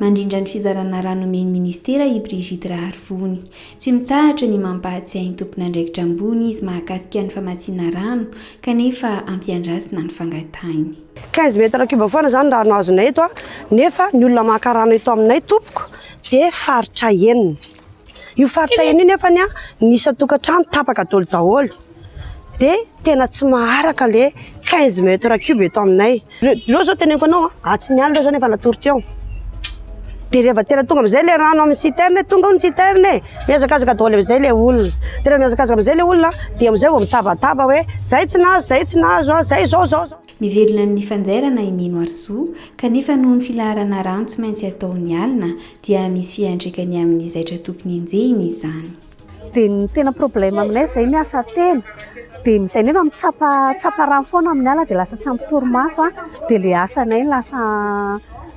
Mandrindra ny fizarana rà nomen'ny ministera i Brigitte Raharivony. Tsy mitsahatra ny mampahatsiahy ny tompon'andraikitra ambony izy mahakasika ny famatsiana rano kanefa ampiandrasina ny fangatahiny. 15 mètres cube foana izany rano azonay eto nefa ny olona maka rano eto aminay tompoko dia faritra enina. Io faritra io nefa ny ny isan-tokantrano tapaka dolo daholo dia tena tsy maharaka le 15 mètres cube eto aminay. Reo zao teneniko anao atsy ny alina zao nefa natory teo. Dia rehefa tena tonga amin'izay le rano amin'ny citerne, tonga ao ny citerne e, mihazakazaka daholo amin'izay le olona. Tena mihazakazaka amin'izay le olona dia amin'izay vao mitabataba hoe zay tsy nahazo, zay tsy nahazo, zay zao, zao, zao. Mivelona amin'ny fanjairana i Mino Arzu, kanefa noho ny filaharana rano tsy maintsy ataony alina dia misy fiantraikany amin'ny zaitra tokony enjehiny izany. Dia ny tena problème aminay izay miasa telo dia izay nefa mitsapa tsapa rano foana amin'ny ala dia lasa tsy ampy torimaso a! dia ilay asanay lasa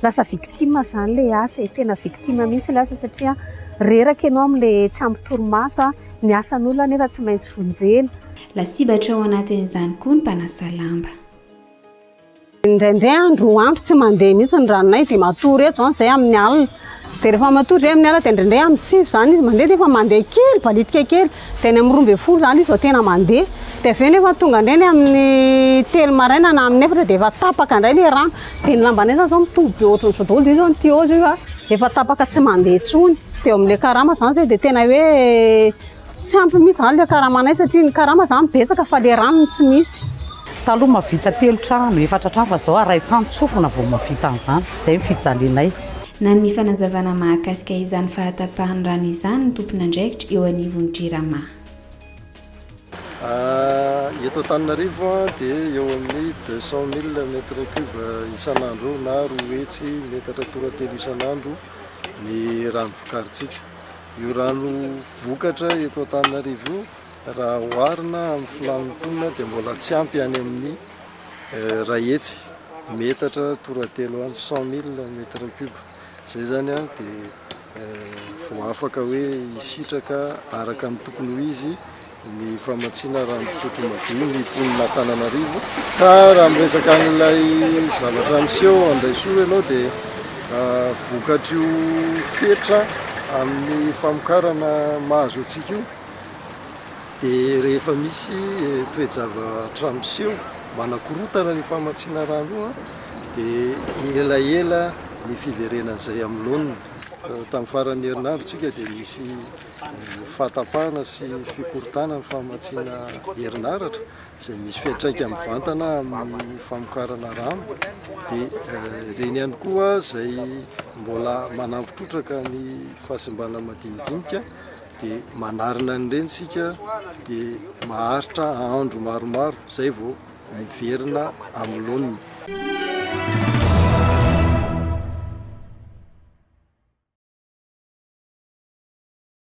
lasa victime izany ilay asa e! tena victime mihitsy ilay asa satria reraka ianao amin'ilay tsy ampy torimaso a! ny asan'olona anefa tsy maintsy vonjena. Lasibatra ao anatin'izany koa ny mpanasa lamba. Indraindray andro, roa andro tsy mandeha mihitsy ny ranonay dia matory eto izany izay amin'ny alina. Dia rehefa matory izay amin'ny alina dia indraindray amin'ny sivy izany izy mandeha nefa mandeha kely, balitika kely. Dia any amin'ny roa ambin'ny folo izany izy vao tena mandeha. Dia avy eo nefa tonga indray ny amin'ny telo maraina na amin'ny efatra dia efa tapaka indray ilay rano. Dia ny lambanay izany izao mitovy be ohatran'izao daholo. Dia io izao ny tuyau izao efa tapaka tsy mandeha intsony. Dia eo amin'ilay karama izany izay dia tena hoe... Tsy ampy mihitsy izany ilay karamanay satria ny karama izany betsaka fa ilay rano no tsy misy. Taloha mahavita telo trano, efatra trano fa izao arahin-tsan-tsofina vao mahavita an'izany. Izay ny fijalianay. Nanome fanazavana mahakasika izany fahatapahan'ny rano izany ny tompon'andraikitra eo anivon'ny Jirama. Eto Antananarivo dia eo amin'ny deux cent mille mètres cubes isan'andro na roa hetsy metatra toratelo isan'andro ny rano vokarintsika. Io rano vokatra eto Antananarivo io raha oharina amin'ny filàn'ny mponina dia mbola tsy ampy any amin'ny eh, ray hetsy metatra toratelo any cent mille mètre cube izay zany a dia eh, vao afaka hoe hisitraka araka ny tokony ho izy ny famatsiana rano fisotro madio ny mponin'Antananarivo ka raha miresaka an'ilay zavatra miseho Andaisoa ianao dia vokatr'io fetra amin'ny famokarana mahazo antsika io dia rehefa misy toe-javatra miseho manakorotana ny famatsiana rano io dia elaela ny fiverenan'izay amin'ny laoniny tamin'ny faran'ny herinandro tsika dia misy fahatapahana sy fikorontanana ny famatsiana herinaratra izay misy fiantraika mivantana amin'ny famokarana rano dia ireny ihany koa izay mbola manampy trotraka ny fahasimbana madinidinika dia manarina an'ireny isika dia maharitra andro maromaro izay vao miverina amin'ny laoniny.